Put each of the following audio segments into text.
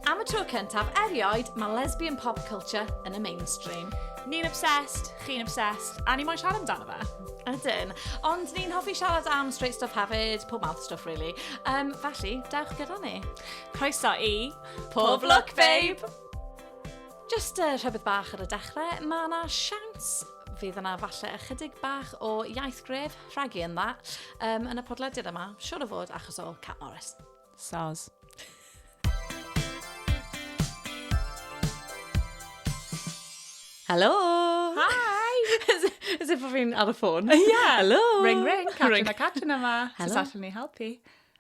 Am y tro cyntaf erioed, mae lesbian pop culture yn y mainstream. Ni'n obsessed, chi'n obsessed, a ni moyn siarad amdano fe. Ydyn. Ond ni'n hoffi siarad am straight stuff hefyd, pob mouth stuff really. Um, felly, dewch gyda ni. Croeso i... Pob Look Babe! Jyst uh, rhywbeth bach ar y dechrau, mae yna siawns fydd yna falle ychydig bach o iaith gref rhagu yn dda um, yn y podlediad yma, siwr o fod achos o Cat Morris. Soz. Helo! Hi! as, as if fi'n ar y ffôn. Ie! Helo! Ring ring, Catrin a Catrin yma. Helo. Sut allan ni helpu?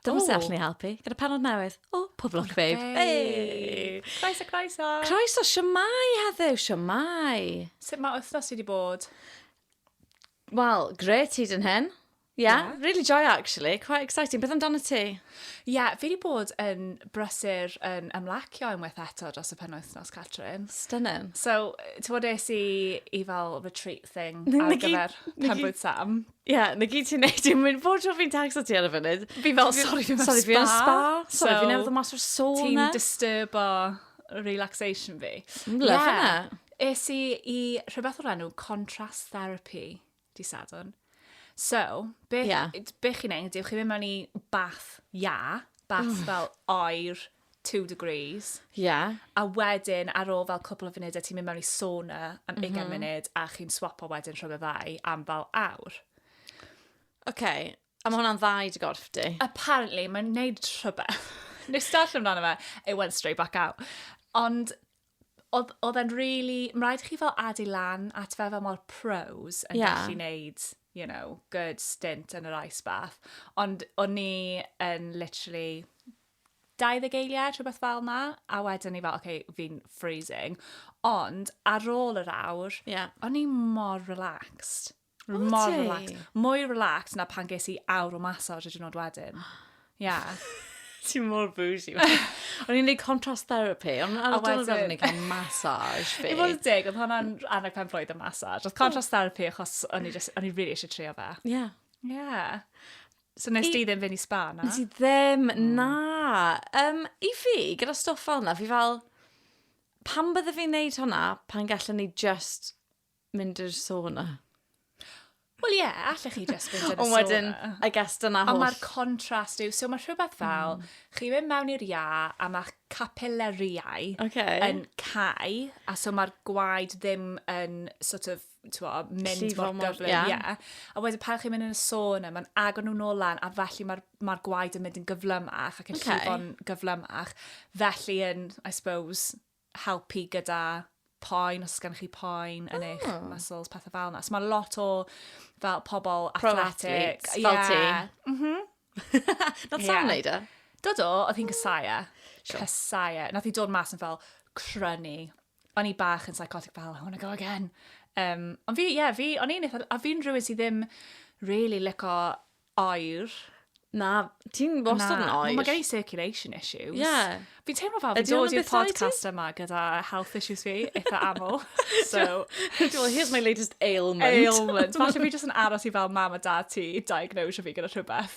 Dyma sut allwn ni helpu. Gyda penod newydd o Pob Lwc Babe. Hey! Croeso, croeso! Croeso, siamai heddiw, siamai! Sut mae wythnos wedi bod? Wel, gret ti dyn hyn. Yeah, yeah, really joy actually, quite exciting. Beth amdano ti? Ie, yeah, fi wedi bod yn brysur yn ymlacio unwaith eto dros y penwythnos, Catrin. Stunning. So, ti bod es i i fel retreat thing ar gyfer penbwyd Sam. Ie, yeah, na gyd ti'n neud i'n mynd. Bob tro fi'n tacso ti ar y funud. Fi fel, sorry, fi mewn spa. Sorry, fi mewn spa. Sorry, fi newydd o mas o'r sauna. Ti'n disturbo relaxation fi. Mm, love yeah. yna. Es i i rhywbeth o'r enw contrast therapy di sadwn. So, beth, yeah. beth chi'n neud, yw chi'n mynd mewn i bath ia, bath mm. fel oer, two degrees. Ie. A wedyn, ar ôl fel cwpl o funudau, ti'n mynd mewn i sauna am mm-hmm. ugain munud, a chi'n swapo wedyn rhwng y ddau am fel awr. OK. A mae hwnna'n ddau dy gorff di? Apparently, mae'n neud rhywbeth. Nes darllen amdano fe, it went straight back out. Ond oedd e'n really... Mae'n rhaid i chi fel adu lan at fe fel mor pros yn yeah. gallu neud, you know, good stint yn yr ice bath. Ond o'n ni yn literally 20 eiliad, rhywbeth fel 'na, a wedyn ni fel, oce, fi'n freezing. Ond, ar ôl yr awr, yeah. o'n i mor relaxed. O, mor ti? relaxed. Mwy relaxed na pan ges i awr o massage y diwrnod wedyn. Ia. Ti mor bougie. O'n i'n neud contrast therapy, ond ar y diwrnod wedyn ni'n cael massage fi. I fod yn dig, oedd hwnna'n annog pen blwydd y massage. Oedd contrast therapy achos o'n i, just, o'n i really eisiau trio fe. Ie. Yeah. Ie. Yeah. So nes ti ddim fynd i spa na? Nes i ddim, hmm. na. Um, I fi, gyda stwff fel yna, fi fel, pam bydde fi'n neud hwnna pan gallwn ni just mynd i'r sauna? Wel ie, yeah, allech chi just mynd i'r sauna. Ond wedyn, I guess dyna holl. Ond mae'r contrast yw, so mae rhywbeth hmm. fel, mm. chi mynd mewn i'r ia a mae capilleriau okay. yn cael, a so mae'r gwaed ddim yn sort of t'mod, mynd Llifo mor mor- gyflym. ie. Ie. A wedyn pan chi'n mynd yn y sauna, mae'n agor nhw nôl lan, a felly mae'r ma gwaed yn mynd yn gyflymach ac yn okay. llifo'n gyflymach. Felly yn, I suppose, helpu gyda poen, os gan chi poen yn oh. eich ah. muscles, pethau fel yna. So mae lot o fel pobl athletic. Pro yeah. fel ti. Mm -hmm. Not yeah. sam neud e? Do do, oedd hi'n cysau e. Sure. Cysau e. Nath hi dod mas yn fel crynu. o'n i bach yn psychotic fel, I want to go again. Um, ond fi, ie, yeah, fi, o'n i'n eitha... A fi'n rhywun sydd ddim really lico oer. Na, ti'n wastad yn oer. Mae gen i circulation issues. Ie. Yeah. Fi'n teimlo fel fi'n dod i'r podcast yma gyda health issues fi, eitha aml. so, well, here's my latest ailment. Ailment. Falle fi jyst yn aros i fel mam a dad ti diagnose fi gyda rhywbeth.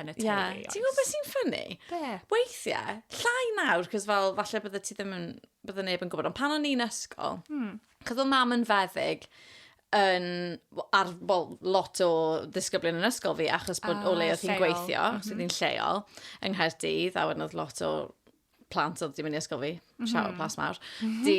yn y teulu. Yeah. Ti'n gwybod beth sy'n ffynnu? Be? Weithiau, llai nawr, cos fel, falle bydde ti ddim yn, bydde neb yn gwybod, ond pan o'n i'n ysgol, hmm. cos o mam yn feddyg, yn, ar, well, lot o ddisgyblion yn ysgol fi, achos bod uh, o ah, le oedd hi'n gweithio, mm -hmm. sydd hi'n lleol, yng Nghaerdydd, a wedyn oedd lot o plant oedd wedi mynd i ysgol fi, mm -hmm. siarad plas mawr, mm -hmm. di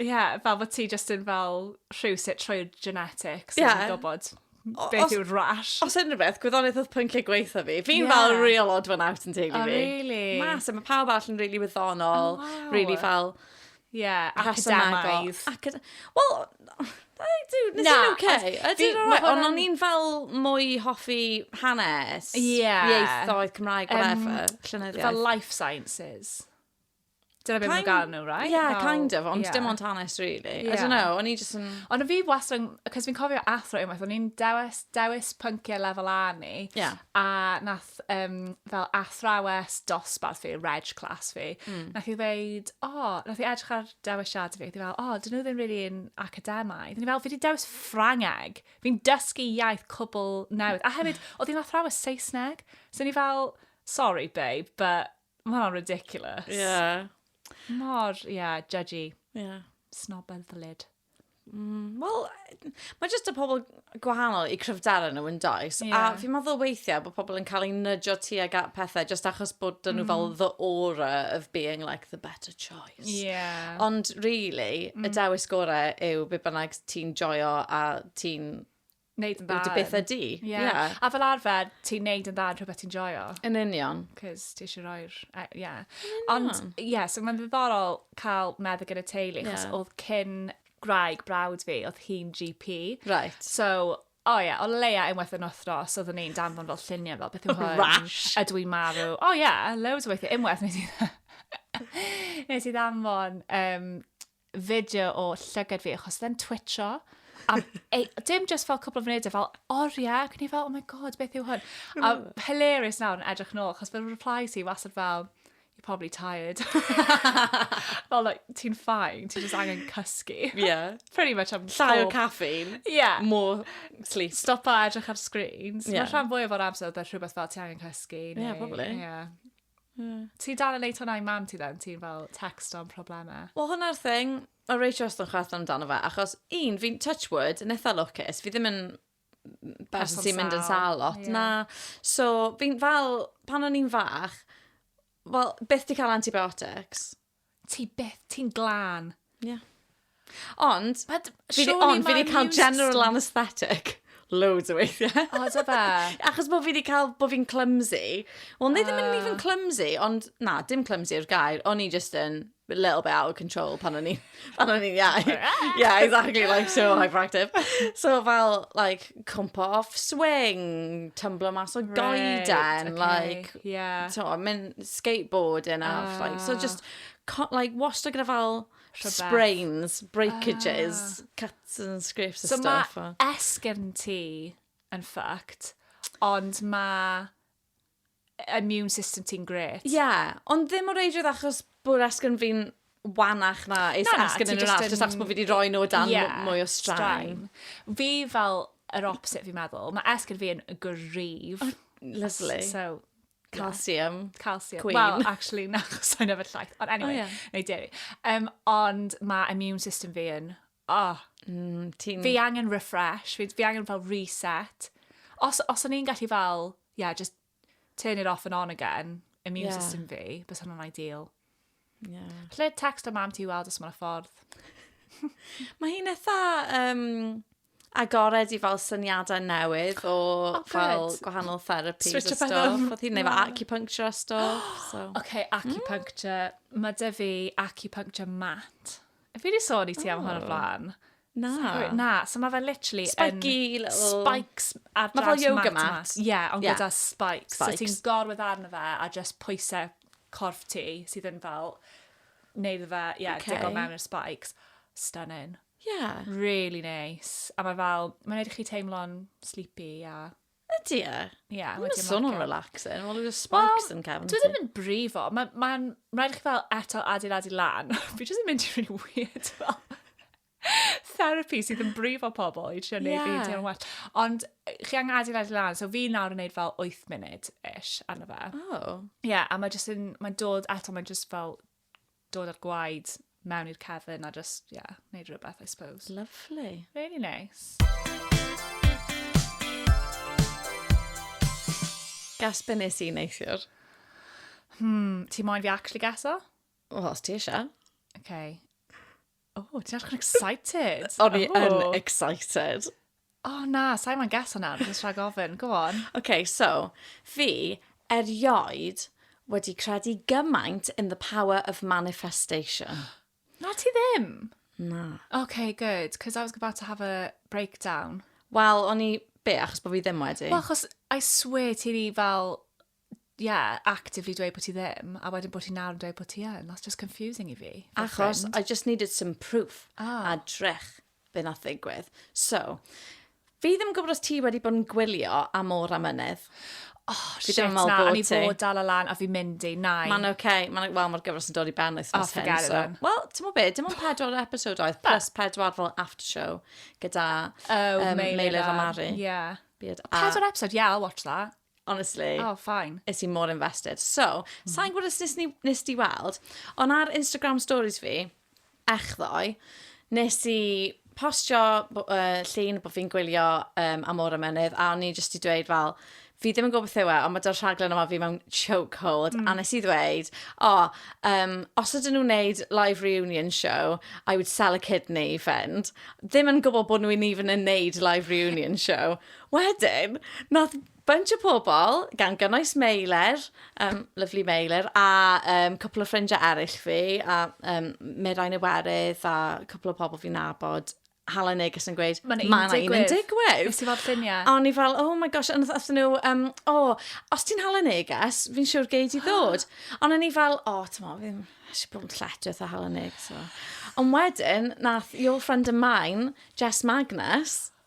Ie, yeah, fel bod ti just yn fel rhywsut trwy'r genetics yeah. yn gwybod beth yw'r rash. Os unrhyw beth, gwyddoniaeth oedd pwynciau gweitha fi. Fi'n yeah. fel real odd fan out yn teulu oh, fi. Really? Mas, mae pawb all yn really wyddonol, oh, wow. really fel... Ie, yeah, academaidd. Acad Wel, I do, nes i'n oce. Ydy, ond o'n i'n fel mwy hoffi hanes, yeah. ieithoedd Cymraeg, whatever, um, llynyddiaeth. Fel life sciences. Dyna beth mae'n gael nhw, right? Yeah, Fel, kind of, ond yeah. dim ond hanes, really. Yeah. I don't know, o'n i just yn... Ond fi wastad yn... Cos fi'n cofio athro unwaith, o'n i'n dewis, dewis pynciau lefel A ni. Yeah. A nath um, fel athrawes dosbarth fi, reg class fi, mm. nath i ddeud, o, oh, nath i edrych ar dewisiad fi, fel, o, oh, dyn nhw ddim really yn academau. Dyn ni fel, fi wedi dewis Ffrangeg. Fi'n dysgu iaith cwbl newydd. A hefyd, oedd hi'n athrawes Saesneg. So ni fel, sorry babe, but Mae hwnna'n ridiculous. Ie. Yeah. Mor, ie, yeah, judgy. Ie. Yeah. Snob ar ddylid. Mm, Wel, mae jyst y pobl gwahanol i cryfdara nhw yn does. Yeah. A fi'n meddwl weithiau bod pobl yn cael ei nydjo ti ag at pethau jyst achos bod dyn nhw mm. fel the aura of being like the better choice. Yeah. Ond really, mm. y dewis gorau yw be bynnag ti'n joio a ti'n Neud yn dda. Dy beth ydi. Ie. Yeah. A fel arfer, ti'n neud yn dda yn rhywbeth ti'n joio. Yn union. Cos ti eisiau rhoi'r... Uh, yeah. Ond, ie, yeah, so mae'n ddiddorol cael meddwl gyda teulu, yeah. chos oedd cyn graig brawd fi, oedd hi'n GP. Right. So, o oh, ie, yeah, o leia unwaith yn othros, oedd yn ein danfon fel lluniau fel beth yw hwn. Rash. A dwi'n marw. O oh, ie, yeah, loads o weithiau unwaith nes i... nes i ddanfon um, fideo o llygad fi, achos then twitcho, am, ei, dim just fel cwpl o funudau, fel oriau, ac ni fel, oh my god, beth yw hwn? A hilarious nawr yn edrych yn ôl, achos fel reply ti, wasad fel, you're probably tired. fel, like, ti'n ffain, ti'n just angen cysgu. Yeah. Pretty much am Llai o caffeine. Yeah. More sleep. Stopa edrych ar screens. Yeah. Mae rhan fwy o'r amser, oedd rhywbeth fel ti angen cysgu. Yeah, probably. Yeah. Yeah. Ti dal yn neud hwnna i mam ti then? Ti'n fel text o'n problemau? Wel, hwnna'r thing. O Rachel os o'n chwerthin amdano fe. Achos un, fi'n touch wood, yn eitha lwcus. Fi ddim yn person sy'n mynd yn sal lot. Yeah. Na. So, fi'n fel, pan o'n i'n fach, wel, beth di cael antibiotics? Ti byth, ti'n glân. Ie. Yeah. Ond, But, fi di, ond fi di cael general anaesthetic loads o weithiau. O, da fe? Achos bod fi wedi cael, bod fi'n clumsy. Wel, nid uh... ddim yn even clumsy, ond na, dim clumsy yw'r gair. O'n i just yn a little bit out of control pan o'n i, pan o'n i'n iau. yeah, exactly, like, so hyperactive. So fel, like, cwmpa off swing, tumblo mas o goeden, okay. like, Yeah. So, mynd skateboard and half, uh, like, so ah. just, like, wastad gyda fel sprains, breakages, uh, cuts and scrapes and so stuff. So mae esgyrn ti yn ffact, ond mae immune system ti'n gret. Ie, yeah, ond ddim o reidrwydd achos bod esgyrn fi'n wanach na is Na, asgyn ti yn yr jyst arall, jyst yn- achos bod fi wedi rhoi nhw o dan Ie, m- mwy o straen. straen. Fi fel yr opposite fi'n meddwl. Mae esgyn fi yn gryf. Lyflu. So, Calcium. calcium. Queen. Wel, actually, na, chos sa'n yfed llaeth. Ond anyway, O, ie. neu deri. Um, ond mae immune system fi yn... Oh, Mm, ti'n... fi angen refresh, fi, fi angen fel reset. Os, os o'n i'n gallu fel, yeah, just turn it off and on again, immune yeah. system fi, bys hwnna'n ideal. Yeah. Lle text o mam ti weld os mae'n ffordd. Mae hi'n eitha um, agored i fel syniadau newydd o oh, fel gwahanol therapi a stuff. Oedd hi'n neud fel acupuncture a stuff. So. OK, hmm? acupuncture. Mm. Mae dy fi acupuncture mat. Fi wedi sôn i ti am hwn o'r oh. blaen. Na. Sori, na. So mae fe literally yn... Spiky little... Spikes ar draws mat yma. Mae fel yoga mat. Ie, ond gyda spikes. Spikes. So ti'n gorwedd arno fe a just pwysau corff ti sydd yn fel wneud fe, ie, digon mewn i'r spikes. Stunning. Ie. Really nice. A mae fel, mae'n wneud i chi teimlo'n sleepy a... Ydy e? Ie, yeah, wedi marcio. Mae'n swnio'n relaxing. Wel, yw'r spikes well, yn cefn. Dwi ddim yn brifo. Mae'n ma, ma rhaid i chi fel eto adeiladu lan. Fi jyst yn mynd i'n really weird fel therapy sydd yn brifo pobl i trio neud yeah. fi teimlo'n well. Ond chi angen adeiladu lan, so fi nawr yn neud fel 8 munud-ish arno fe. Oh. Ie, yeah, a mae jyst yn, mae'n dod eto, mae'n jyst fel dod â'r gwaed mewn i'r cefn a just, ie, yeah, neud rhywbeth, I suppose. Lovely. Really nice. Gas be nes i neithiwr? Hmm, ti moyn fi actually gaso? O, os ti eisiau. Okay. O, oh, ti'n edrych yn excited. O'n i yn excited. O oh, na, sa'i ma'n gas yna, dwi'n rhaid gofyn, go on. Oce, okay, so, fi erioed wedi credu gymaint in the power of manifestation. Na ti ddim? Na. Okay, good, because I was about to have a breakdown. Wel, o'n i... Be, achos bod fi ddim wedi? Wel, achos I swear ti di fel yeah, actively dweud bod ti ddim, a wedyn bod ti nawr yn dweud bod ti yn. That's just confusing i fi. Achos I just needed some proof oh. a drech be nath ddigwydd. So, fi ddim yn gwybod os ti wedi bod yn gwylio am o'r amynedd. Oh, fi shit, na, a ni fod dal o lan a fi mynd i, nai. Mae'n oce, okay. mae'n, wel, mae'r gyfres yn dod i ben oes oh, hyn. So. Wel, ti'n mwyn beth, dim ond pedwar episod oedd, plus pedwar fel after show gyda oh, um, Meilir a Mari. Yeah. Beard. Pedwar episode, yeah, I'll watch that. Honestly. Oh, fine. Is i mor invested. So, mm -hmm. sa'n gwybod os nes, nes di weld, ond ar Instagram stories fi, echddoe, nes i postio uh, llun bod fi'n gwylio um, am o'r ymenydd, a o'n i jyst i dweud fel, fi ddim yn gwybod beth yw e, ond mae dy'r rhaglen yma fi mewn chokehold, mm. a nes i ddweud, o, oh, um, os ydyn nhw'n neud live reunion show, I would sell a kidney, fend. Ddim yn gwybod bod nhw'n even yn neud live reunion show. Wedyn, nath bunch o pobl, gan gynnwys Meiler, um, lyflu Meiler, a um, cwpl o ffrindiau eraill fi, a um, Mirain Iwerydd, a cwpl o pobl fi'n nabod, hala neges yn gweud, mae'n ma un yn digwydd. Nes i fod lluniau. O'n i fel, oh my gosh, ond oedd nhw, um, o, oh, os ti'n hala neges, fi'n siŵr gei di ddod. ond o'n i fel, o, oh, ti'n mo, fi'n eisiau bod yn lletio a hala neges. So. Ond wedyn, nath Your Friend of Mine, Jess Magnus,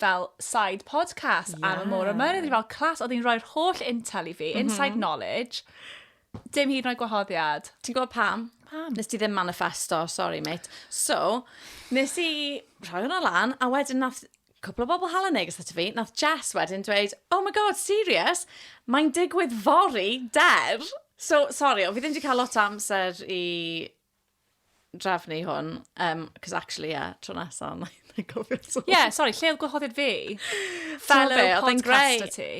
fel side podcast yeah. am y môr yma. Roedd fel clas, oedd hi'n rhoi'r holl intel i fi, mm -hmm. inside knowledge, dim hyd yn oed gwahoddiad. Ti'n gwybod pam? Pam? Nes ti ddim manifesto, sorry mate. So, nes i rhoi hwnna lan, a wedyn nath cwpl o bobl hal yn neges ato fi, nath Jess wedyn dweud, oh my god, serious? Mae'n digwydd fori der. So, sorry, o, fi ddim wedi cael lot o amser i drefnu hwn, um, cos actually, yeah, tro nesa, na i gofio so. Ie, yeah, sori, lle oedd gwahoddiad fi? Fellow podcaster ti.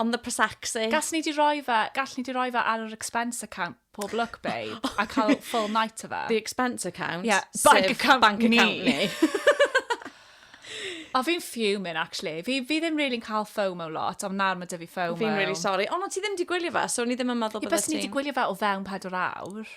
On the Prosexy. Gas ni di roi fe, gall ni di roi fe ar yr expense account pob look, babe, a cael full night o fe. The expense account? Yeah, bank account bank account ni. O, fi'n fuming, actually. Fi, fi ddim really'n cael FOMO lot, ond nawr mae dy fi FOMO. Fi'n really sorry. O, no, ti ddim di gwylio fe, so ni ddim yn meddwl bod ti'n... Bys ni di gwylio fe o fewn 4 awr.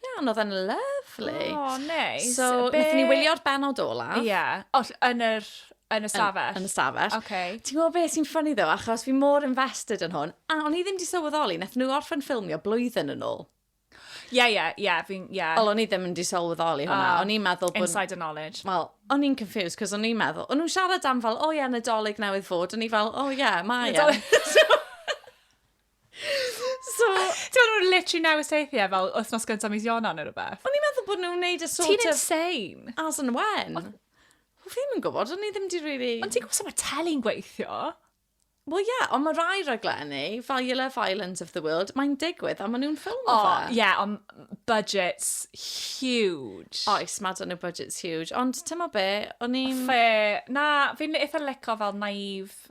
Iawn, oedd e'n lyflu. O, oh, neis. So, Be... wnaethon ni wylio'r benod ola. Ie, yeah. oh, yn yr Yn y stafell? Yn, yn y stafell. Okay. Ti'n gwybod beth sy'n ffynnu ddo, achos fi mor invested yn hwn, a o'n i ddim wedi sylweddoli, nath nhw orffen ffilmio blwyddyn yn ôl. Ie, ie, ie, fi'n, ie. Wel, o'n i ddim wedi sylweddoli hwnna, uh, o'n i'n meddwl bod... Insider knowledge. Wel, o'n i'n confused, cos o'n i'n meddwl, o'n nhw'n siarad am fel, o oh, ie, yeah, nadolig newydd fod, o'n i fel, o oh, ie, yeah, mae e. So... Ti'n meddwl nhw'n literally newid seithiau fel wythnos gyntaf mis Ionan neu rhywbeth? O'n i'n meddwl bod nhw'n neud y sort of... Ti'n insane! As and when. O, fi ddim yn gwybod, o'n i ddim di really... Ond ti'n gwybod sut mae teli'n gweithio? Wel ie, yeah, ond mae rai raglenni, fel Your Love Island of the World, mae'n digwydd a maen nhw'n ffilm o fe. O, ie, yeah, ond budgets huge. Oes, mae dyn nhw budgets huge, ond ti'n mo be, o'n i'n... Fe, na, fi'n eitha lico fel naive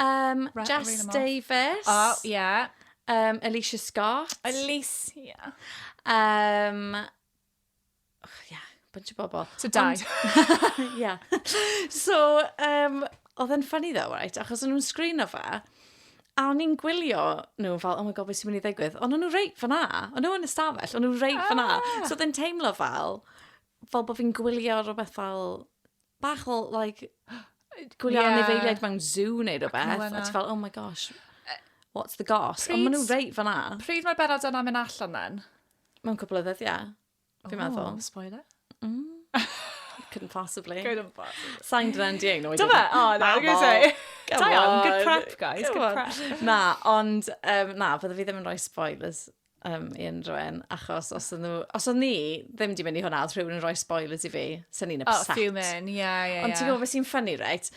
Um, Right, Jess read 'em off. Davis. O, ie. Um, Alicia Scott. Alicia. Um, oh, yeah, bunch of bobl. So dau. yeah. So, um, oedd yn ffynnu ddo, right? Achos o'n nhw'n sgrino fe. A o'n i'n gwylio nhw fel, oh my god, beth sy'n mynd i ddigwydd? Ond o'n nhw reit fyna. O'n nhw yn y stafell, o'n nhw reit fyna. Ah. So oedd yn teimlo fel, fel bod fi'n gwylio rhywbeth fel bach o, like, gwylio yeah. anifeiliaid mewn zoo neu rhywbeth. A ti'n fel, oh my gosh, what's the goss? Ond maen nhw reit fanna. Pryd mae'r benod yna mynd allan then? Mae'n cwbl o ddyddiau, fi'n oh, meddwl. spoiler. Mm. Couldn't possibly. Couldn't possibly. Sain dyna'n di ein oed. Dyma, o, na, I'm gonna say. Da iawn, good prep, guys, good prep. Na, ond, um, na, fydda fi ddim yn rhoi spoilers um, i unrhyw un, achos os o'n nhw... Os o'n ni ddim di mynd i hwnna, oedd rhywun yn rhoi spoilers i fi, sy'n ni'n upset. Oh, fuming, ie, ie, ie. Ond ti'n gwybod beth sy'n ffynnu, reit?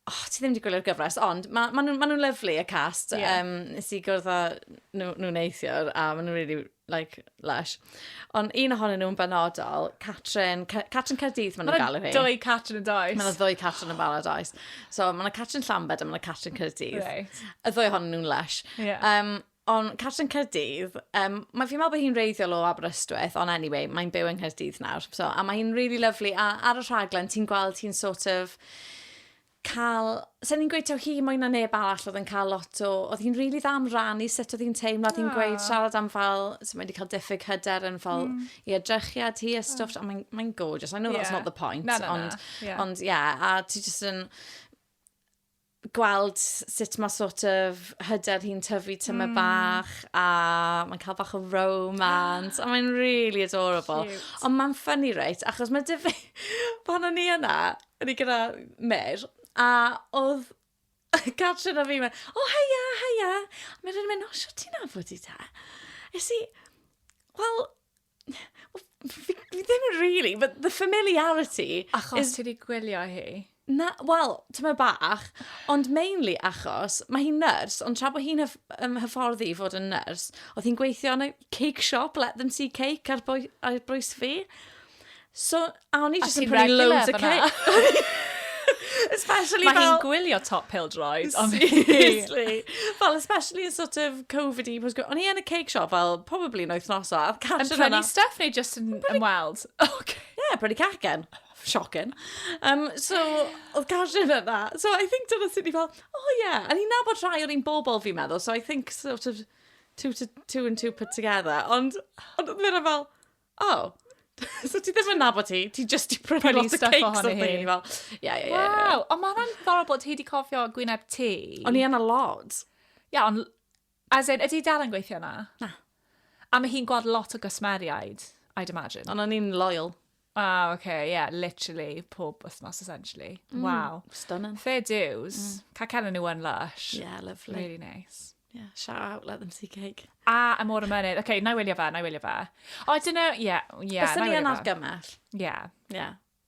Oh, ti ddim wedi gwylio'r gyfres, ond maen ma nhw'n ma nhw lyflu, y cast. Yeah. Um, nes i gwrdd â nhw, nhw neithiwr, a maen nhw'n really, like, lush. Ond un ohonyn nhw'n benodol, Catrin, Catrin Caerdydd maen nhw'n galw hi. Mae dwy Catrin yn does. Mae dwy Catrin yn barod oes. So, mae yna Catrin Llambed a mae yna Catrin Caerdydd. Right. Y ddwy ohonyn nhw'n lush. Yeah. Um, Ond cartre yn Caerdydd, um, mae fi'n meddwl bod hi'n reiddiol o Aberystwyth, ond anyway, mae'n byw yng Nghaerdydd nawr. So, a mae hi'n really lovely, a ar y rhaglen ti'n gweld hi'n sort of cael... Sa'n ni'n gweud taw hi mwy na neb arall oedd yn cael lot o... Oedd hi'n rili really dda am rannu sut oedd hi'n teimlo, oedd hi'n gweud siarad am fel... So mae wedi cael diffyg hyder yn fel mm. i edrychiad hi a stwff, oh. a mae'n mae gorgeous. I know yeah. that's not the point, na, na, na. ond, yeah. ond yeah, a ti jyst yn gweld sut mae sort of hyder hi'n tyfu tyma mm. bach a mae'n cael bach o romance a mae'n really adorable. Cute. Ond mae'n funny reit, achos mae dyfu pan o'n i yna, o'n i gyda Mer, a oedd Catrin a fi mynd, o oh, heia, heia. A mae'n rhaid mynd, o, sio ti'n afod i ta? Esi, wel, fi, fi ddim yn really, but the familiarity... Achos is... ti wedi gwylio hi? Na, wel, ti'n meddwl bach, ond mainly achos mae hi'n nyrs, ond tra bod hi'n um, hyfforddi i fod yn nyrs, oedd hi'n gweithio yn y cake shop, let them see cake, ar, bwy, ar bwys fi. So, A o'n i jyst yn prynu loads o cake. Especially Mae hi'n gwylio top pill droid. Seriously. fel, especially yn sort of Covid-y. O'n i yn y cake shop fel, probably yn oes a Yn prynu stuff neu just yn ymweld? Okay. Yeah, prynu cacen. Shocking. Um, so, oedd Catrin yna. So, I think dyna sy'n ni fel, oh yeah. A ni'n nabod rhai o'r un bobl fi'n meddwl. So, I think sort of two, to, two and two put together. Ond, ond oedd fel, O, so ti ddim yn nabod hi, ti just di prynu lot o cakes ohono hi. Fel, yeah, yeah, yeah. Wow, ond mae hwnna'n ddiddorol bod ti wedi cofio gwyneb ti. O'n i yna lot. Ia, yeah, ond, as in, ydy dal yn gweithio yna? Na. A mae hi'n gweld lot o gysmeriaid, I'd imagine. Ond o'n i'n loyal. Ah, oce, okay, yeah, literally, pob wythnos, essentially. Mm, wow. Stunning. Fair dues. Mm. Cael cael nhw yn lush. Yeah, lovely. Really nice. Yeah, shout out, let them see cake. A, a môr y mynydd. Oce, okay, na i wylio fe, na i wylio fe. O, dyn nhw, ie, ie. Byswn ni yn argymell. Ie. Ie.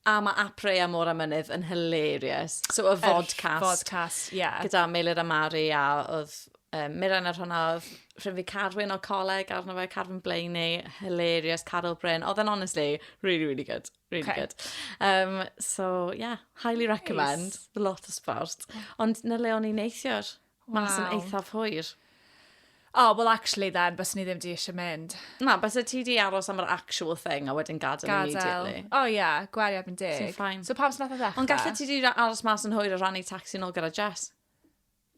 A mae Apre a Môr a Mynydd yn hilarious. So, y vodcast. Er, vodcast, ie. Yeah. Gyda Meilir a Mari a oedd um, Miran ar hwnna oedd rhywun fi Carwyn o coleg arno fe, Carwyn Blaeney, hilarious, Carol Bryn. Oedd yn honestly, really, really good. Really okay. good. Um, so, yeah, highly recommend. Nice. Lot o sport. Ond na le o'n i'n neithiwr. Waw. Ma'n swnio eithaf hwyr. O, wel actually then, byswn i ddim di eisiau mynd. Na, byswn ti di aros am yr actual thing a wedyn gadael, gadael. immediately. O oh, ie, yeah, gwario erbyn deg. Sy'n ffain. So pam sy'n nath o ddechrau? Ond gallu ti di aros mas yn hwyr a rannu taxi yn ôl gyda Jess?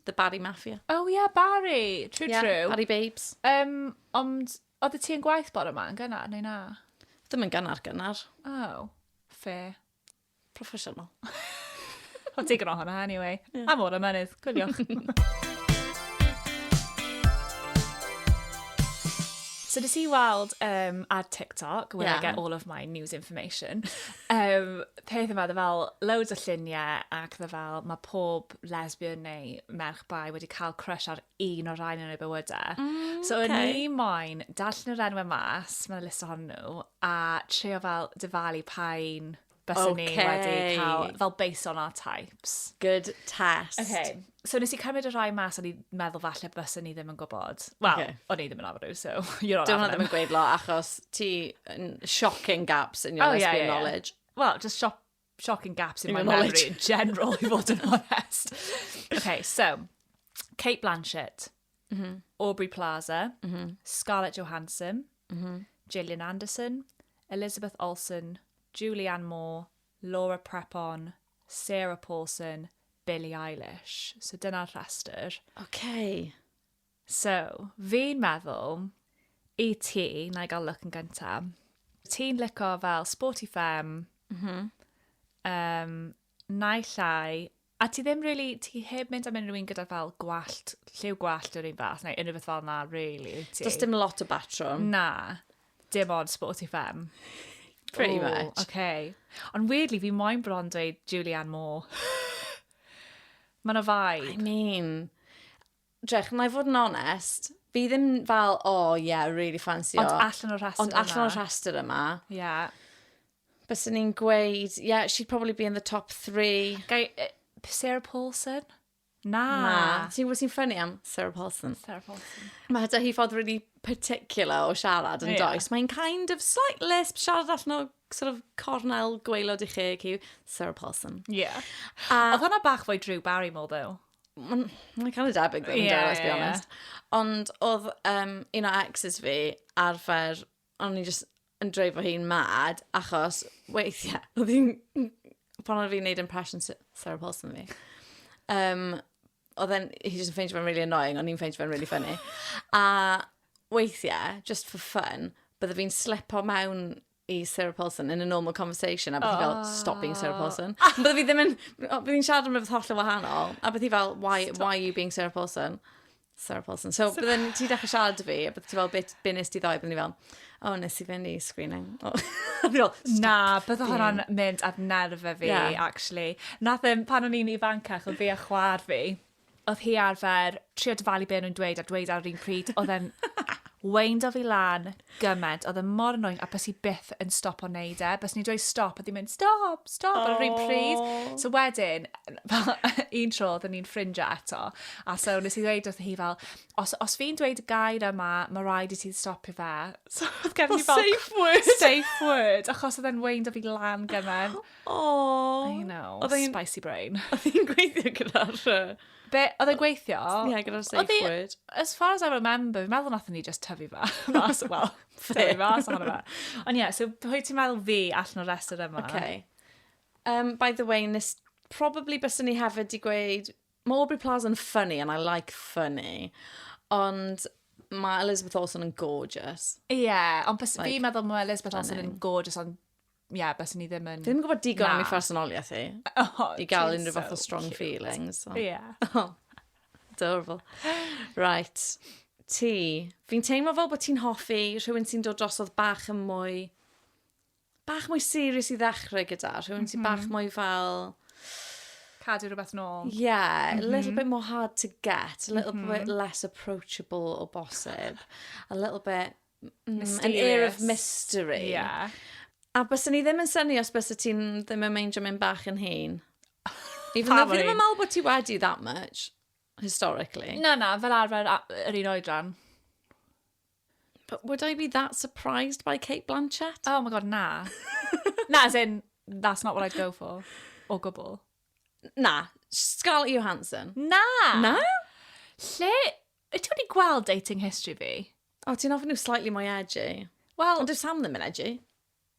The Barry Mafia. Oh yeah, Barry. True, yeah, true. Barry Babes. Um, ond, oedd ti yn gwaith bore yma yn gynnar, neu na? Ddim yn gynnar, gynnar. Oh, fair. Professional. I'll take it on hwnna anyway. Yeah. Am o'r ymenydd, gwyliwch. so nes i weld um, ar TikTok, where yeah. I get all of my news information, um, peth yma, dda fel loads o lluniau ac dda fel mae pob lesbian neu merch bai wedi cael crush ar un o'r rhain yn ei bywydau. Mm, okay. So o'n i moyn darllen yr enwau mas, mae'n list ohonyn nhw, a trio fel dyfalu pa'n bys okay. ni wedi cael, fel based on our types. Good test. Okay. So nes i cymryd y rhai mas, o'n i'n meddwl falle bys ni ddim yn gwybod. Wel, okay. o'n i ddim yn arfer so you're on Dwi'n ddim yn gweud lo, achos ti shocking gaps in your oh, lesbian yeah, yeah, knowledge. Yeah. Wel, just shop shocking gaps in, in my knowledge in general, i fod yn honest. okay, so, Kate Blanchett, mm -hmm. Aubrey Plaza, mm -hmm. Scarlett Johansson, mm -hmm. Gillian Anderson, Elizabeth Olsen, Julianne Moore, Laura Prepon, Sarah Paulson, Billie Eilish. So dyna'r rhestr. Okay. So, fi'n meddwl, i ti, na i gael look yn gynta. Ti'n lico fel sporty femme. Mhm. Mm um, na i llai. A ti ddim really, ti heb mynd am unrhyw un gyda fel gwallt, lliw gwallt o'r un fath, neu unrhyw beth fel na, really, wyt ti? Does dim lot o batrwm. Na, dim ond sporty femme. Pretty Ooh, much. Okay. Ond weirdly, fi moyn bron dweud Julianne Moore. Mae'n o I vibe. mean, Drych, na i fod yn onest, fi ddim fel, oh yeah, really fancy o. Ond allan o'r rhestr yma. Ond allan o'r rhestr yma. Yeah. Bys ni'n gweud, yeah, she'd probably be in the top three. Gai, uh, Sarah Paulson? Na. Na. Ti'n gwybod sy'n ffynnu am Sarah Paulson? Sarah Paulson. Mae da hi ffordd really particular o siarad yn yeah. does. Mae'n kind of slight lisp, siarad allan o sort of cornel gweilod i chi, Sarah Paulson. Yeah. A... Oedd hwnna bach fwy Drew Barrymore, though. Mae'n ma cael ei debyg ddim yn yeah, let's be honest. Yeah. Ond oedd um, un o exes fi arfer, o'n i just yn dreifo hi'n mad, achos weithiau, oedd hi'n, pan oedd fi'n neud impression Sarah Paulson fi, um, oedd e'n, he just yn ffeindio fe'n really annoying, o'n i'n ffeindio fe'n really funny. A weithiau, just for fun, bydde fi'n slipo mewn i Sarah Paulson in a normal conversation, a beth i fel, oh. stop being Sarah Paulson. A bydde fi ddim yn, bydde fi'n siarad am rhywbeth holl yn wahanol, a beth i fel, why, stop. why are you being Sarah Paulson? Sarah Paulson. So, so... bydden ti dechrau siarad fi, a bydde ti fel, beth nes ti ddoe, bydden ni fel, oh, nes i fynd i screening. Oh. fel, Na, bydde hwnna'n mynd ar nerfe fi, yeah. actually. Nath e, pan o'n i'n ifancach, o fi a chwar fi, oedd hi arfer trio dyfalu be o'n nhw'n dweud a dweud ar yr un pryd, oedd e'n weindo fi lan gymaint, oedd e mor annoying, a bys i byth yn stop o'n neud e. Bys ni'n dweud stop, a ddim mynd stop, stop, ar yr un pryd. Oh. So wedyn, fel, un tro, oedden ni'n ffrindiau eto, a so nes i ddweud wrth hi fel, os, os fi'n dweud y gair yma, mae rhaid i ti stopio fe. So oedd gen i fel... Safe word. Safe word, achos oedd e'n weindo fi lan gymaint. Oh. I know. Oedd hi'n... Spicy brain. Oedd hi'n gweithio gyda'r... Be, oedd e'n gweithio? Ie, yeah, gyda'r safe word. As far as I remember, fi'n meddwl nath ni just tyfu fa. Mas, wel, tyfu mas ohono fe. Ond ie, yeah, so pwy ti'n meddwl fi allan o'r rest yma? Okay. Um, by the way, nes probably bys ni hefyd di gweud, mae Aubrey Plaza yn funny and I like funny, ond mae Elizabeth Olsen yn gorgeous. Ie, yeah, ond bys like, fi meddwl mae Elizabeth Olsen yn gorgeous, ond ie, yeah, bys ni ddim yn... Ddim yn gwybod digon am ei phersonoliaeth hi. Oh, I gael unrhyw fath o strong cute. feelings. So. Yeah. Oh, adorable. Right. Ti. Fi'n teimlo fel bod ti'n hoffi rhywun sy'n dod drosodd bach yn mwy... Bach mwy serious i ddechrau gyda. Rhywun mm -hmm. sy'n bach mhm. mwy fel... Cadw rhywbeth nôl. Yeah, mm -hmm. a little mhm. bit more hard to get, a little mm -hmm. bit mhm. less approachable o bosib, a little bit Mysterious. An air of mystery. Ie. Yeah. A byswn ni ddim yn syni os bysy ti'n ddim yn meindio mynd bach yn hyn. Even though fi ddim yn meddwl bod ti wedi that much, historically. Na, na, fel arfer yr un oedran. But would I be that surprised by Kate Blanchett? Oh my god, na. na, as in, that's not what I'd go for. O gwbl. Na, Scarlett Johansson. Na! Na? Lle Wyt ti wedi gweld dating history fi? O, ti'n ofyn nhw slightly mwy edgy. Wel... Ond dwi Sam ddim yn edgy.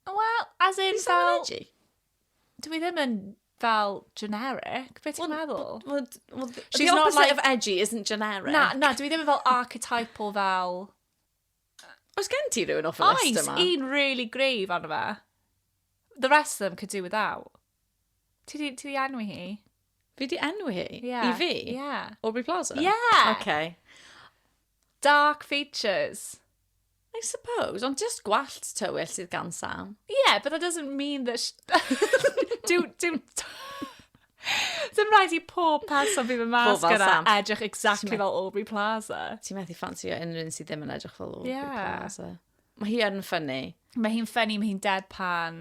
Wel, as in Dwi Sam yn edgy. Dwi ddim yn fel generic. Be ti'n meddwl? Well, well, the She's not opposite like- of edgy isn't generic. Na, na, dwi ddim yn fel archetypal fel... Os gen ti rhywun off y list Oes, yma? un really grave arno fe. The rest of them could do without. Ti di, ti di enwi hi? Fi di enwi hi? Yeah. I fi? Yeah. Aubrey Plaza? Yeah! Okay. Dark features. I suppose, ond just gwallt tywyll sydd gan Sam. Yeah, but that doesn't mean that... do, do... Dim rhaid i pob person fydd yn mas gyda edrych exactly fel Aubrey Plaza. Ti'n methu ffansi o unrhyw un sydd ddim yn edrych fel Aubrey yeah. Plaza. Mae hi yn ffynnu. Mae hi'n ffynnu, mae hi'n deadpan.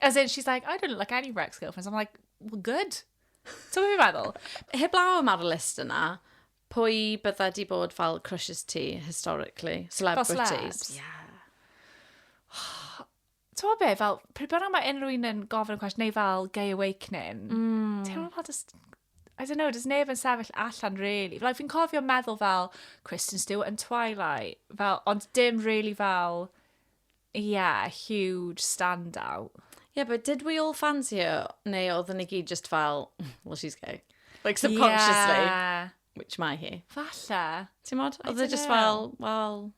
As in, she's like, I don't look like any of her ex-girlfriends. I'm like, well, good. Ti'n gwybod meddwl? Heb law am ar y list yna, pwy bydda di bod fel crushes ti, historically? Celebrities? Fel yeah. Ti'n be, fel, pryd bynnag mae unrhyw un yn gofyn y cwestiwn, neu fel gay awakening, mm. ti'n meddwl just, I don't know, does neb yn sefyll allan, really. Like, fi'n cofio meddwl fel Kristen Stewart yn Twilight, fel, ond dim really fel, Yeah, huge standout. Yeah, but did we all fancy her? Neu oedden ni gyd just fel, well, she's gay. Like, subconsciously. Yeah. Which mae hi. Falle. Ti'n modd? Oedd e just fel, well...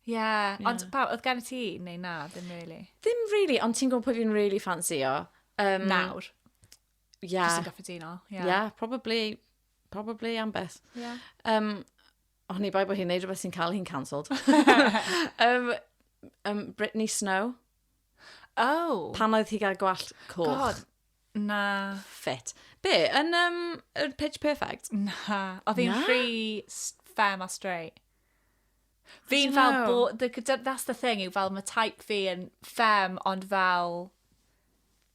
Yeah, yeah. ond pa, oedd gen ti? Neu na, ddim really. Ddim really, ond ti'n gwybod pwy fi'n really fancy o? Um, Nawr. Yeah. Just yn gyffredinol. Yeah. yeah, probably, probably am beth. Yeah. Um, Oni bai bod hi'n neud rhywbeth sy'n cael hi'n cancelled. um, um, Britney Snow. Oh. Pan oedd hi gael gwallt coch. God, na. Fit. Be, yn um, yr Pitch Perfect? Na. Oedd hi'n rhy fem a straight. Fi'n fel bo... That's the thing, yw fel mae type fi yn fem, ond fel...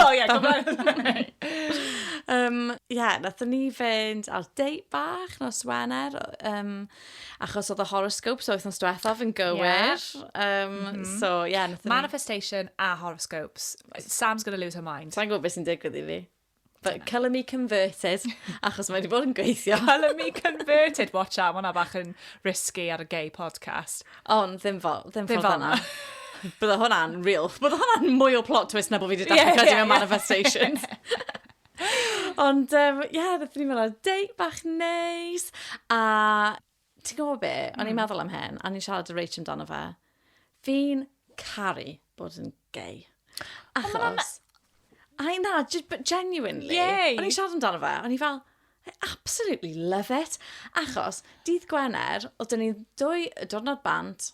O ie, gwybod. um, ie, nathon ni fynd ar date bach nos Wener, um, achos oedd y horoscope, so wythnos diwethaf yn gywir. Yeah. Um, mm -hmm. So, ie, yeah, nathon ni... Manifestation a horoscopes. Sam's gonna lose her mind. Sa'n gwybod beth sy'n digwydd i fi. But colour me converted, achos mae wedi bod yn gweithio. colour me converted, watch out, mae'na bach yn risky ar y gay podcast. Ond ddim fel, ddim fel fel na. Bydde hwnna'n real. Bydde hwnna'n mwy o plot twist na bod fi wedi dweud yeah, yeah, yeah. manifestations. Ond, ie, um, yeah, ddeth ni'n meddwl, dei bach neis. A ti'n gwybod be, o'n i'n hmm. meddwl am hyn, a ni'n siarad y Rachel amdano fe. Fi'n caru bod yn gay. Achos... I na, genuinely. Yay. O'n i'n siarad amdano fe, o'n i fel, I absolutely love it. Achos, dydd Gwener, oedd dyn ni dwy y diwrnod bant,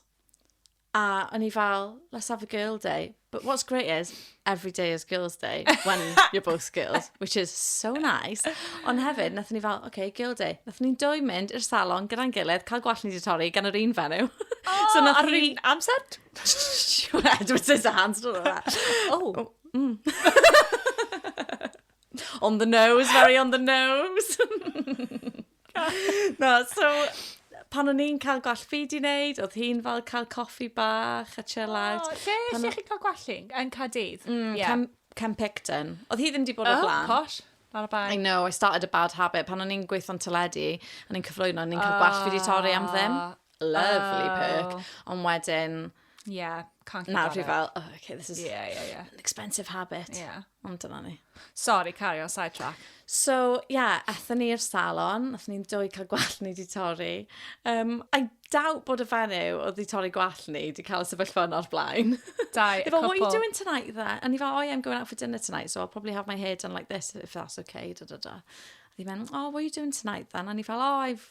a o'n i fel, let's have a girl day. But what's great is, every day is girls day, when you're both girls, which is so nice. Ond hefyd, nath ni fel, okay, girl day. Nath ni'n dwy mynd i'r salon gyda'n gilydd, cael gwallt ni di torri gan yr un fenyw. Oh, so nath ar yr un amser? Dwi'n mynd to hands, dwi'n mynd. Oh. oh mm. On the nose, very on the nose. Na, so, pan o'n i'n cael gwall fi di wneud, oedd hi'n fel cael coffi bach a chill out. O, lle, Pan lle o- chi'n cael gwallu? Yn Cadydd? Mm, Ie. Cam, Cam Picton. Oedd hi ddim di bod o Oh, blaen. posh. Ar y I bai. know, I started a bad habit. Pan o'n i'n gweithio'n teledu, o'n i'n cyflwyno, o'n i'n cael gwallt fi di torri am ddim. Ah. Lovely Oh. perk. Ond wedyn, Yeah, can't keep Nawr fi fel, oh, okay, this is yeah, yeah, yeah. an expensive habit. Yeah. Ond dyna ni. Sorry, carry on, side track. So, yeah, athyn ni i'r salon, athyn ni'n dwy cael gwell ni di torri. Um, I doubt bod y fenyw oedd wedi torri gwallt ni, wedi cael sefyllfa yno'r blaen. Dau, a couple. what are you doing tonight there? And he fel, oh yeah, I'm going out for dinner tonight, so I'll probably have my hair done like this, if that's okay, da da da. And he went, oh, what are you doing tonight then? And he fel, oh, I've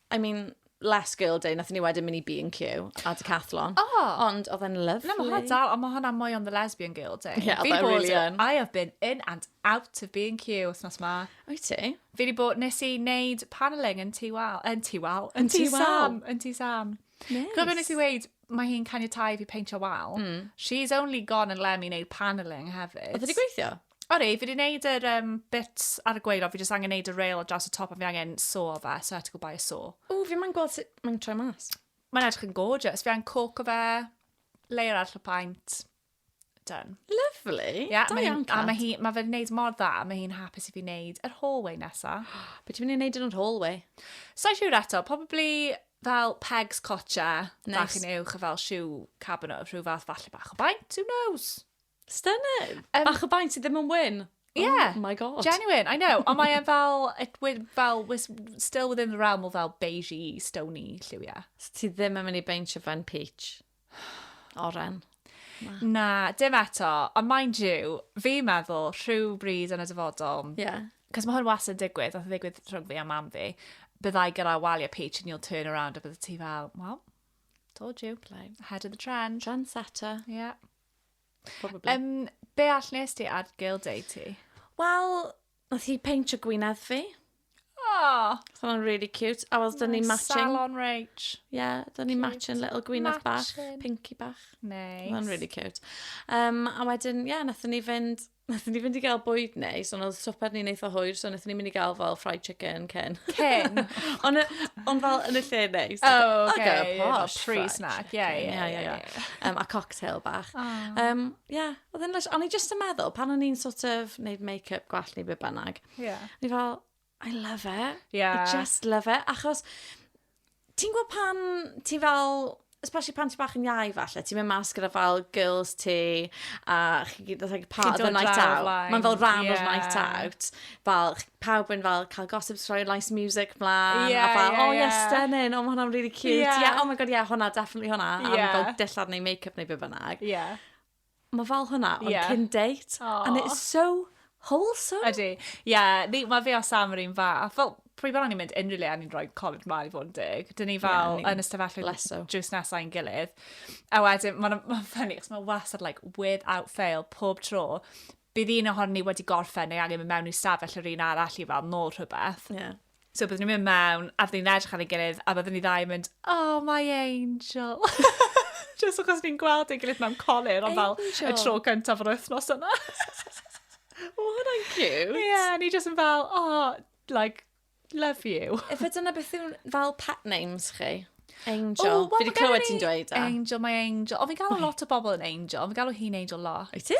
I mean, last girl day, nath ni wedyn mynd i B&Q a Decathlon. Oh. Ond oedd e'n lyflu. Na, mae hwnna dal, ond mae hwnna mwy on the lesbian girl day. Ie, oedd e'n really yn. I have been in and out of B&Q wythnos ma. Oi ti? Fi wedi bod, nes i wneud panelling yn ti wal, yn ti wal, yn ti sam, yn ti sam. Nice. Gwybod nes i weid, mae hi'n caniatau fi peintio wal. Mm. She's only gone and let me wneud panelling hefyd. Oedd wedi gweithio? O rei, fi wedi gwneud yr um, bit ar y gwaelod, fi jyst angen gwneud y rail ar draws y top a fi angen so fe, so I had to go buy a so. O, fi mae'n gweld sut mae'n troi mas. Mae'n edrych yn gorgeous, fi angen coco fe, layer arall o paint, done. Lovely. Ie, yeah, da iawn, Cat. A mae hi, mae fe'n gwneud mor dda, mae hi'n hapus i fi wneud yr hallway nesa. Be ti'n mynd i wneud yn yr hallway? Sa'n siŵr eto, probably fel pegs cotcha, nice. bach yn uwch, a fel siw cabinet, rhyw fath falle bach o baint, who knows? Stunning! Um, Bach o baent sydd ddim yn wyn. Oh yeah. Oh my god. Genuine, I know. Ond mae'n fel, it, fel, was still within the realm o fel beigey, stony lliwiau. So ti ddim yn mynd i beintio fe'n peach? Oren. Na. Na, dim eto. Ond mind you, fi meddwl rhyw bryd yn y dyfodol. Ie. Yeah. Cos mae hwn was yn digwydd, oedd yn digwydd rhwng fi a mam fi. Byddai gyda waliau peach and you'll turn around a bydde ti fel, well, told you. Blai. Head of the trend. Trendsetter. Yeah. Probably. Um, be all nes ti ar Girl Day ti? Wel, nath hi peintio gwynedd fi. Oh. So o'n really cute. A was dyn ni matching. Salon Rach. Yeah, dyn ni matching little gwynedd bach, pinky bach. Nice. O'n really cute. Um, a wedyn, yeah, nath ni fynd Nathon ni fynd i gael bwyd neis, ond oedd swper ni'n eitha hwyr, so nathon ni mynd i gael fel fried chicken cyn. Cyn? ond, on fel yn y lle neis. Oh, okay. okay posh, pre-snack, ie, ie, ie. ie. Um, a cocktail bach. Ie, oh. um, yeah, oedd yn lys... Ond i just yn meddwl, pan o'n i'n sort of neud make-up gwell neu be bynnag. Ie. Yeah. Ni fel, I love it. Yeah. I just love it. Achos, ti'n gwybod pan ti fel, especially pan ti bach yn iau falle, ti'n mynd mas gyda fel girls ti, a chi gyd yn like, part of the night out. Mae'n fel rhan yeah. o'r night out. Fel, pawb yn fel cael gossip story, nice music mlaen, yeah, a fel, yeah, oh yeah, yeah. stunning, oh mae hwnna'n really cute. Yeah. yeah, oh my god, yeah, hwnna, definitely hwnna. Yeah. A fel dillad neu make-up neu beth bynnag. Yeah. Mae fel hwnna, ond yeah. cyn date. Aww. And it's so wholesome. Ydy. Ie, yeah, mae fi a Sam yr un fa. Fel, prwy bod ni'n mynd unrhyw le a ni'n rhoi colled mlaen i fod yn dig. Dyn ni fel yeah, yn ystafellwyd jyst nesau yn gilydd. A wedyn, mae'n ma ffynnu, chos mae wasad, like, without fail, pob tro, bydd un ohon ni wedi gorffen neu angen mynd mewn i stafell yr un arall i fel nôl rhywbeth. Yeah. So byddwn ni'n mynd mewn, a byddwn ni'n edrych ar ei gilydd, a byddwn ni ddau yn mynd, oh my angel. Just achos ni'n gweld ei gilydd mewn colir, ond fel y tro cyntaf o'r wythnos yna. o, hwnna'n cute. Ie, yeah, ni just yn fel, oh, like, love you. Efe dyna beth yw'n fel pet names chi? Angel. Oh, well, Fi wedi clywed ti'n dweud e. Angel, my angel. O, fi'n galw lot o bobl yn angel. Fi'n galw hi'n angel lot. Wyt ti?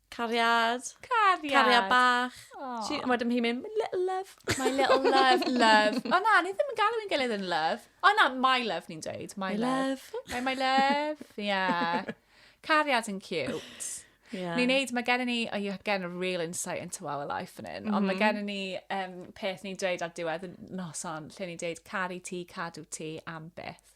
Cariad. Cariad. Cariad bach. Aww. She, wedyn hi'n mynd, my little love. My little love, love. O na, ni ddim yn galw i'n gilydd yn love. O na, my love ni'n dweud. My, my love. love. My, my love. Yeah. Cariad yn cute. Yeah. Ni'n neud, mae gen i ni, oh, you get a real insight into our life yn un, mm -hmm. ond mae mhm. gen i ni um, peth ni'n dweud ar diwedd y noson, lle ni'n dweud caru ti, cadw ti am beth.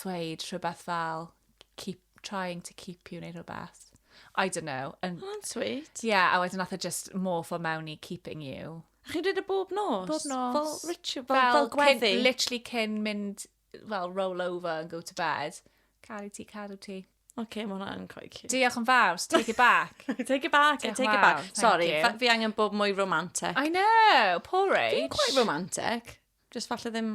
dweud rhywbeth fel keep trying to keep you neu rhywbeth. I don't know. Yn... Oh, that's sweet. Yeah, a wedyn nath e just morph o mewn i keeping you. A chi'n dweud y bob nos? Bob nos. Fel ritual, fel, fel, fel gweddi? Cyn, literally cyn mynd, fel roll over and go to bed. Caru ti, caru ti. Oce, okay, mae hwnna'n quite cute. Diolch yn fawr, take it back. take it back, Diolch take it back. Sorry, fi angen bob mwy romantic. I know, poor age. Dwi'n quite romantic. Just falle ddim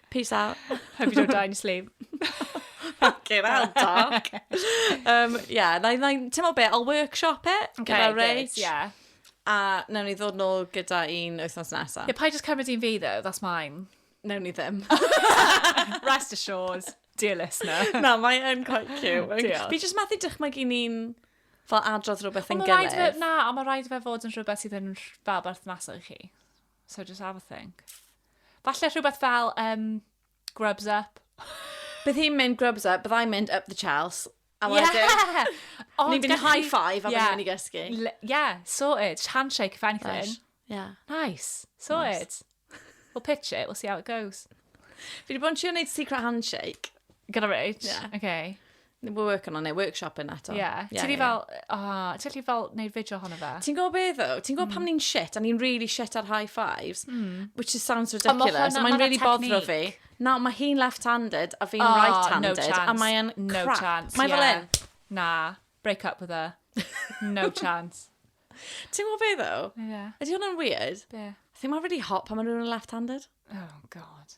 Peace out. Hope you don't die in your sleep. Fucking hell, Doc. um, yeah, na, na, ti'n meddwl be, I'll workshop it okay, gyda Rach. Yeah. A newn ni ddod nôl gyda un wythnos nesaf. Yeah, pa i just cymryd un fi, though, that's mine. Newn ni ddim. Rest assured, dear listener. na, mae yn quite cute. Diolch. Fi just methu dychmygu ni'n fel adrodd rhywbeth yn gilydd. Na, ond mae rhaid fe fod yn rhywbeth sydd yn fel berthnasol i chi. So just have a think. Falle rhywbeth fel um, grubs up. Bydd hi'n mynd grubs up, byddai'n mynd up the chels. A wedyn, yeah! ni'n mynd high five a yeah. ni'n mynd i gysgu. L yeah, sorted. Just handshake if anything. Fresh. Yeah. Nice. Sorted. Nice. We'll pitch it, we'll see how it goes. Fi wedi bod yn siŵr wneud secret handshake. Gyda Rich? Yeah. Okay. We're working on it, workshop yna to. Ie. Yeah. Ti'n yeah, fel, o, oh, ti'n lli fel neud fideo hon o fe? Ti'n gwybod beth o? Ti'n gwybod mm. pam ni'n shit, a ni'n really shit ar high fives, mm. which is sounds ridiculous, a mae'n really bodro fi. Nawr, mae hi'n left-handed a fi'n oh, right-handed, no chance. a mae'n crap. No chance, Mae yeah. fel un. Na, break up with her. No chance. Ti'n gwybod beth o? Ie. Yeah. Ydy hwnna'n weird? Be? Yeah. I think mae'n really hot pan maen nhw'n left-handed. Oh, god.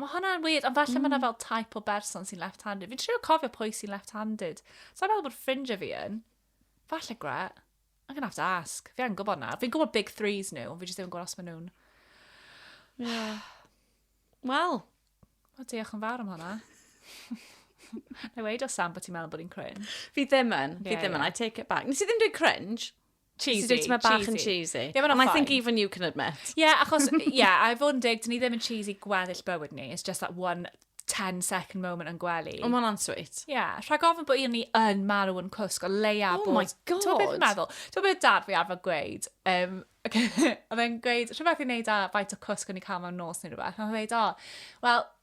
Mae hwnna'n weird, ond falle mm. mae yna fel type o berson sy'n left-handed. Fi'n trio cofio pwy sy'n left-handed. So i'n meddwl bod ffrindiau fi yn. Falle gre. I'm gonna have to ask. Fi angen gwybod na. Fi'n gwybod big threes nhw, fi jyst ddim yn gwybod os maen nhw'n... Yeah. Wel. O, diolch yn fawr am hwnna. Na i weid o Sam bod ti'n meddwl bod i'n cringe. Fi ddim yn. Yeah, fi ddim yn. Yeah. I take it back. Nes i ddim dweud cringe. Cheesy, cheesy. Mae bach yn cheesy. Yeah, And I think even you can admit. Yeah, achos, yeah, I fod yn dig, dyn ni ddim yn cheesy gweddill bywyd ni. It's just that one 10 second moment yn gwely. O, mae'n answeet. Ie, yeah, rhag ofyn bod un ni yn marw yn cwsg o leia oh bod... Oh my god! Ti'n beth meddwl? Ti'n beth dad fi arfer gweud? Um, okay, oedd e'n gweud, rhywbeth i'n neud â faint o cwsg o'n i cael mewn nos neu rhywbeth. Mae'n dweud, o, oh, wel,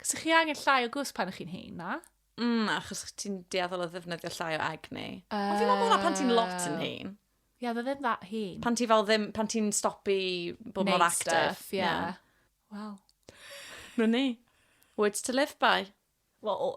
Cos chi angen llai o gwsg pan chi'n hyn, na? Mm, achos ti'n deall o ddefnyddio llai o egni. Uh, Ond fi'n meddwl bod pan ti'n lot yn hyn. Ie, yeah, ddim that hyn. Pan ti fel ddim, pan ti'n stopi bod mor active. Stuff, yeah. yeah. Wel. Nwn ni. Words to live by. Wel,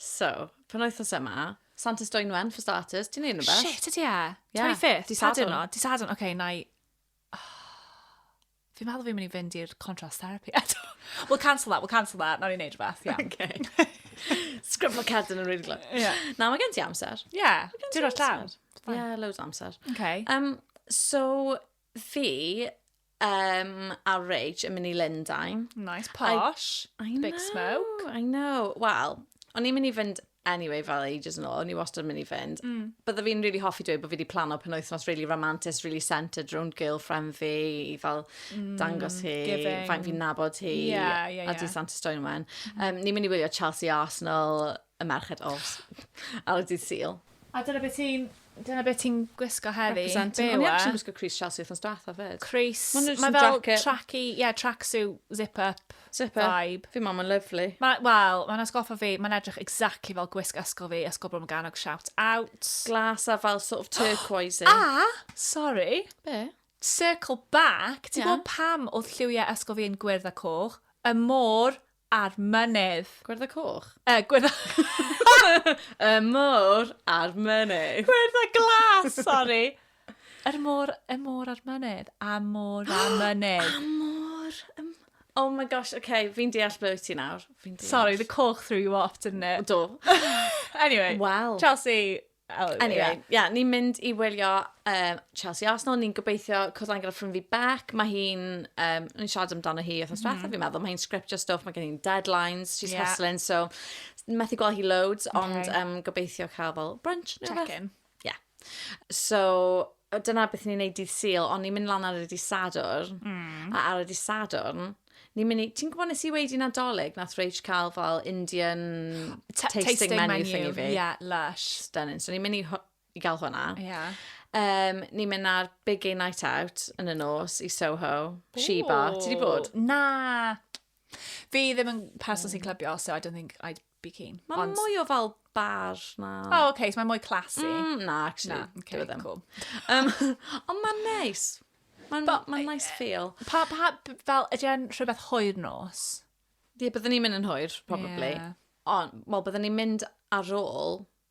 So, penwythnos yma, Santes Dwynwen, for starters, ti'n neud rhywbeth? Shit, ydy e? Ie, 25th? dydd Pa Sadwrn. diwrnod? Di sadwn, oce, na i... Fi'n meddwl fi'n mynd i fynd i'r contrast therapy eto. We'll cancel that, we'll cancel that. Nawr i wneud rhywbeth, iawn. Okay. Sgriflo cerdyn yn rili glwg. Ie. Na, mae gen ti amser. Ie, diwrnod llawn. Ie, loads o amser. Oce. Um, so, Fi um, a Rach yn mynd i Lundain. Nice, posh, I, I big know, smoke. I know. Wel, o'n i'n mynd i fynd anyway fel ages yn ôl, o'n i wastad yn mynd i fynd. Mm. Bydda fi'n really hoffi dweud bod fi wedi plano pen wythnos really romantic, really centred rownd girlfriend fi, i fel mm, dangos hi, giving. faint fi'n nabod hi, yeah, yeah, yeah. a di Santa Stone wen. Mm. Um, ni'n mynd i wylio Chelsea Arsenal y merched os, ar y dydd Sil. A dyna beth ti'n... Dyna beth ti'n gwisgo heddi. Representing. Be yw e? O'n i actually'n gwisgo Crease Chelsea wrthnos diwetha fyd. Crease. Mae'n just yn jacket. Mae fel tracky, ie, yeah, tracksuit, zip-up zip vibe. Fi mam yn lyflu. Ma, Wel, mae'n asgoffa fi, mae'n edrych exactly fel gwisg ysgol fi, ysgol Brom Ganog, shout out. Glas a fel sort of turquoise. a, sorry. Be? Circle back, ti'n yeah. gwybod pam oedd lliwiau ysgol fi yn gwyrdd a coch? Y môr A'r mynydd. Gwyrdd y coch? Yy gwyrdd y... y môr a'r mynydd. Gwyrdd y glas, sori! Yr môr, y môr a'r mynydd. A môr a mynydd. A môr... Um, oh my gosh, oce, okay, fi'n deall ble wyt ti nawr. Sorry, the coch threw you off, didn't it? Do. anyway, well. Chelsea, Oh, anyway, yeah. yeah, ni'n mynd i wylio um, Chelsea Arsenal, ni'n gobeithio cwrdd angen ffrind fi Beck, mae hi'n, um, ni'n siarad amdano hi oedd diwethaf, mm. fi'n meddwl, mae hi'n scriptio stuff, mae gen hi'n deadlines, she's yeah. hustling, so methu gweld hi loads, okay. ond um, gobeithio cael fel brunch neu beth. Check-in. Yeah. So, dyna beth ni'n neud dydd syl, ond ni'n mynd lan ar y dydd sadwr, mm. a ar y dydd sadwr, Ni'n mynd i... Ti'n gwybod nes i weud i Nadolig, nath Rach cael fel Indian T tasting, tasting menu, menu thingy fi? Yeah, lush. Stunning. So ni'n mynd i, i gael hwnna. Yeah. Um, ni'n mynd ar Big Gay Night Out yn y nos i Soho, Ooh. Sheba. Ti di bod? Na. Fi ddim yn person sy'n clybio, so I don't think I'd bikini. Mae Ond... mwy o fel bar na... O, oh, oce, okay, so mae mwy classy. Mm, na, actually. Na, okay, ddim. cool. Um, ond mae'n neis. Mae'n ma nice feel. Pa, pa, fel, ydy e'n rhywbeth hwyr nos? Ie, byddwn ni'n mynd yn hwyr, probably. Yeah. Ond, wel, byddwn ni'n mynd ar ôl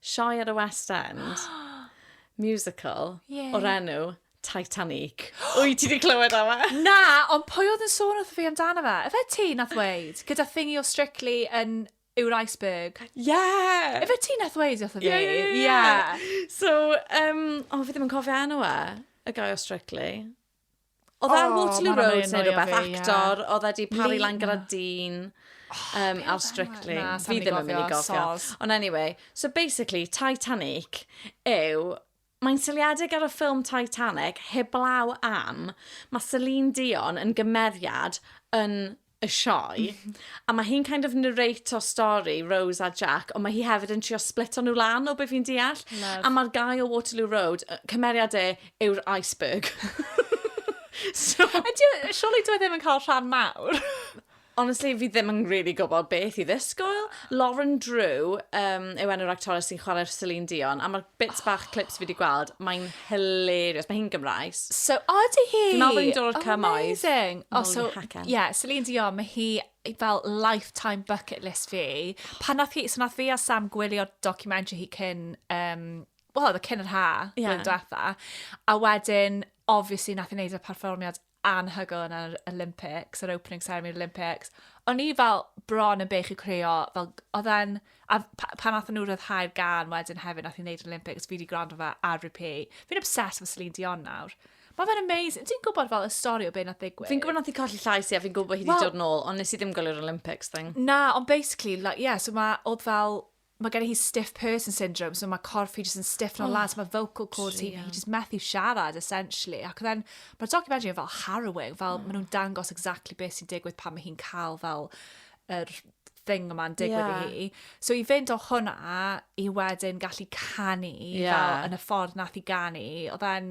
sioe ar y West End, musical, Ie. o'r enw Titanic. Wyt ti wedi clywed am e? Na, ond pwy oedd yn sôn wrth fi amdano fe? Efe ti nath weid? Gyda thingy o Strictly yn yw'r iceberg. Ie! Efe ti nath weid wrth fi? Ie, ie, ie, ie. So, um, o, fi ddim yn cofio enw e. Y guy o Strictly. Oedd e ar Waterloo Road neu rhywbeth, actor, oedd e di pari lan gyda dyn um, ar Strictly. Na, fi ddim yn mynd i gofio. Ond anyway, so basically, Titanic yw Mae'n syliedig ar y ffilm Titanic, heblaw am, mae Celine Dion yn gymeriad yn y sioe, a mae hi'n kind of narrate o stori Rose a Jack, ond mae hi hefyd yn trio splito nhw lan o be fi'n deall. Love. A mae'r guy o Waterloo Road, cymeriad e yw'r iceberg. so... Ydy, surely dwi e ddim yn cael rhan mawr. Honestly, fi ddim yn really gwybod beth i ddisgwyl. Lauren Drew um, yw enw'r actores sy'n chwarae'r Celine Dion, a mae'r bits bach clips fi wedi gweld, mae'n hilarious. Mae hi'n Gymraes. So, o, di hi? Dwi'n meddwl bod hi'n dod o'r cymoedd. Amazing. O, so, ie, yeah, Celine Dion, mae hi fel lifetime bucket list fi. Pan nath hi, so nath fi a Sam gwylio documentary hi cyn, um, wel, oedd y cyn yr ha, yeah. blwyddyn diwetha. A wedyn, obviously, nath i wneud y perfformiad anhygoel yn yr Olympics, yr opening ceremony yr Olympics. O'n i fel bron yn bech i creo, fel, oedd e'n, a pan nath nhw rhyddhau'r gan wedyn hefyd nath i'n neud yr Olympics, fi wedi gwrando fe ar repeat. Fi'n obsessed with Celine Dion nawr. Mae fe'n amazing. Ti'n gwybod fel y stori o beth nath ddigwydd? Fi'n gwybod nath i colli llais i a fi'n gwybod bod hi wedi well, dod nôl, ond nes i ddim gwylio'r Olympics thing. Na, ond basically, like, yeah, so mae, oedd fel, mae gen i hi stiff person syndrome, so mae corff hi jyst yn stiff yn oh, lad, so mae vocal cords hi, hi jyst methu siarad, essentially. Ac then, mae'r documentary yn fel harrowing, fel oh. maen nhw'n dangos exactly beth sy'n digwydd pan mae hi'n cael fel yr er thing yma'n digwydd yeah. i hi. So i fynd o hwnna i wedyn gallu canu yeah. fel yn y ffordd nath i ganu, oedd e'n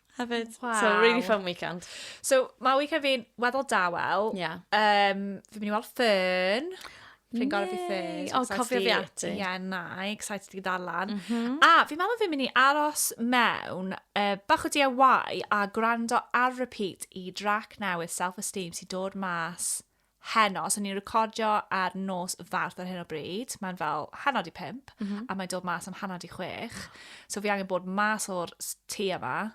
Hefyd. Waw. So really fun weekend. So ma' weekend fi'n weddol dawel. Ie. Yym fi'n mynd i weld Fern. Fi'n gorau fi Fern. O, cofio fi ati. Ie, yeah, na, excited i ddarllen. Mm -hmm. A fi'n meddwl fi'n mynd i aros mewn uh, bach o DIY a gwrando ar repeat i drac newydd Self Esteem sy'n dod mas heno, so ni'n recordio ar nos farth ar hyn o bryd, mae'n fel hanod i pimp, mm -hmm. a mae'n dod mas am hanod i chwech. So fi angen bod mas o'r tu yma,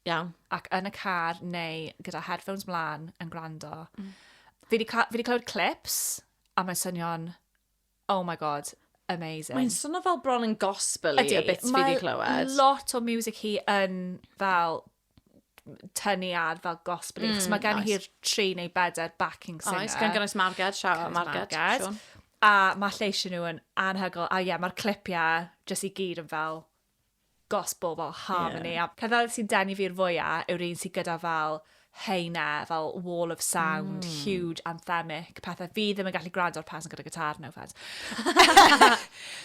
Iawn. ac yn y car neu gyda headphones mlaen yn gwrando. Mm. Fi wedi clywed clips, a mae'n swnio'n Oh my god, amazing. Mae'n swnio fel bron yn gospel i y bits fi di clywed. Mae lot o music hi yn fel tynnu ar fel gospel mm, mae gen nice. hi'r tri neu bedair backing singer. Oes, gan gynnwys Marged, siaw Marged. Marged. A mae lleisio nhw yn anhygol. A ie, yeah, mae'r clipiau jyst i gyd yn fel gospel fel harmony yeah. a pethau sy'n denu fi'r fwya yw'r un sy'n gyda fel heina, fel wall of sound, mm. huge anthemic, pethau fi ddim yn gallu gwrando ar person gyda gitar, no offense.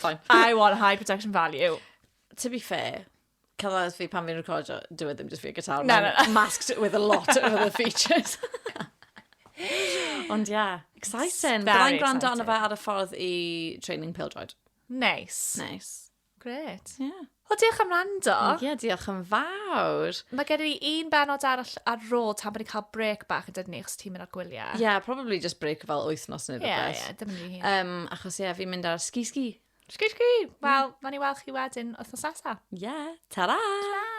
Fine. I want high production value. To be fair, cyfle fi pan fi'n recordio, dwi e ddim just fi a gitar, no, no, no. masked with a lot of other features. Ond yeah, exciting. Byddai'n gwrando arno fe ar y ffordd i training pildroed. Nice. Nice. Gret. Ie. Yeah. Wel, diolch am rando. Ie, yeah, diolch yn fawr. Mae gen i un benod arall ar rôl tan bod ni'n cael brec bach yn dydyn ni, achos ti'n mynd ar gwyliau. Ie, yeah, probably just brec fel wythnos neu rhywbeth. Ie, ie, dim yn hun. Um, achos ie, yeah, fi'n mynd ar ski-ski. Ski-ski! Wel, mm. fan i weld chi wedyn wythnos nesaf. Ie, yeah, ta-ra! Ta-ra!